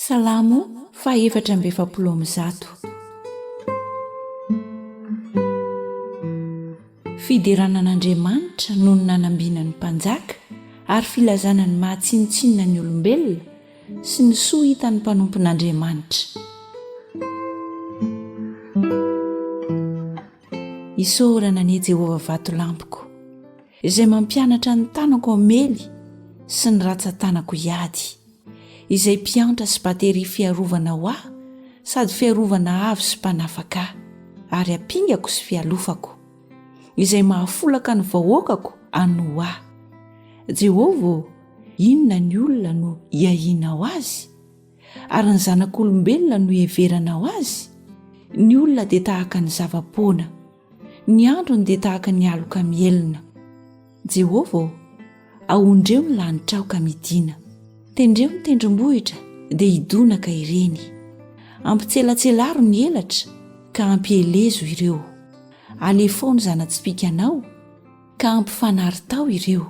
Salamo fahefatra amby efapolo amby zato. Fiderana an'Andriamanitra noho ny nanambina ny mpanjaka ary filazana ny maha tsinontsinona ny olombelona sy ny soa hitan'ny mpanompon'Andriamanitra. Isaorana anie Jehovah vatolampiko. izay mampianatra ny tanako hamely sy ny ratsan-tanako hiady, izay mpiantra sy bateria fiarovana ho ahy sady fiarovana avo sy mpanafaka ahy ary ampingako sy fialofako, izay mahafolaka ny vahoakako hanoa ahy. Jehovah ô, inona ny olona no iahianao azy? Ary ny zanak'olombelona no iheveranao azy? Ny olona dia tahaka ny zava-poana. Ny androny dia tahaka ny aloka mihelina. Jehovah ô, ahondreo ny lanitrao ka midìna. Tendreo ny tendrombohitra, dia hidonaka ireny. Ampitselatselaro ny elatra, ka hampielezo ireo. Alefao ny zana-tsipìkanao, ka ampifanaritaho ireo.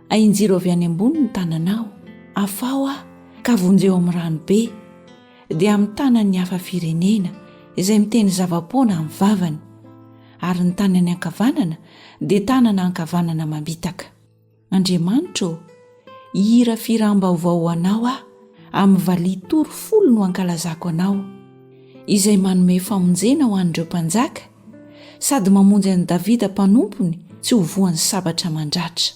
Ahinjiro avy any ambony ny tananao, afaho aho ka vonjeo amin'ny rano be, dia amin'ny tanan'ny hafa firenena izay miteny zava-poana amin'ny vavany, ary ny tanany ankavanana dia tanana ankavanana mamitaka. Andriamanitra ô, hihirafiram-baovao ho anao aho, amin'ny valiha tory folo no ankalazako anao, izay manome famonjena ho an'ireo mpanjaka, sady mamonjy an'i Davida mpanompony tsy ho voan'ny sabatra mandratra.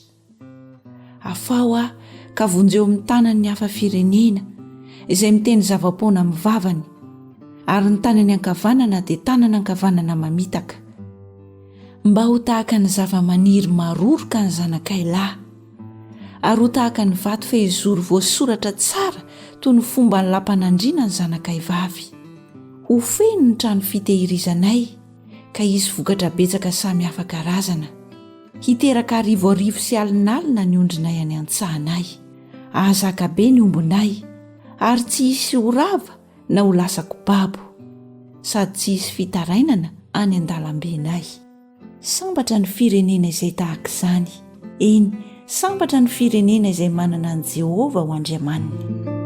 Afaho aho ka vonjeo amin'ny tanan'ny hafa firenena, izay miteny zava-poana amin'ny vavany, ary ny tanany ankavanana dia tanana ankavanana mamitaka, mba ho tahaka ny zava-maniry maroroka ny zanakay lahy. Ary ho tahaka ny vato fehizoro voasoratra tsara toy ny fomban'ny lampanandriana ny zanakay vavy. Ho feno ny trano fitehirizanay, ka hisy vokatra betsaka samy hafa karazana. Hiteraka arivo arivo sy alinalina ny ondrinay any an-tsahanay. Hahazaka be ny ombinay, ary tsy hisy ho rava na ho lasa kobabo. Sady tsy hisy fitarainana any an-dalambenay. Sambatra ny firenena izay tahaka izany. Eny, sambatra ny firenena izay manana an'i Jehovah ho Andriamaniny.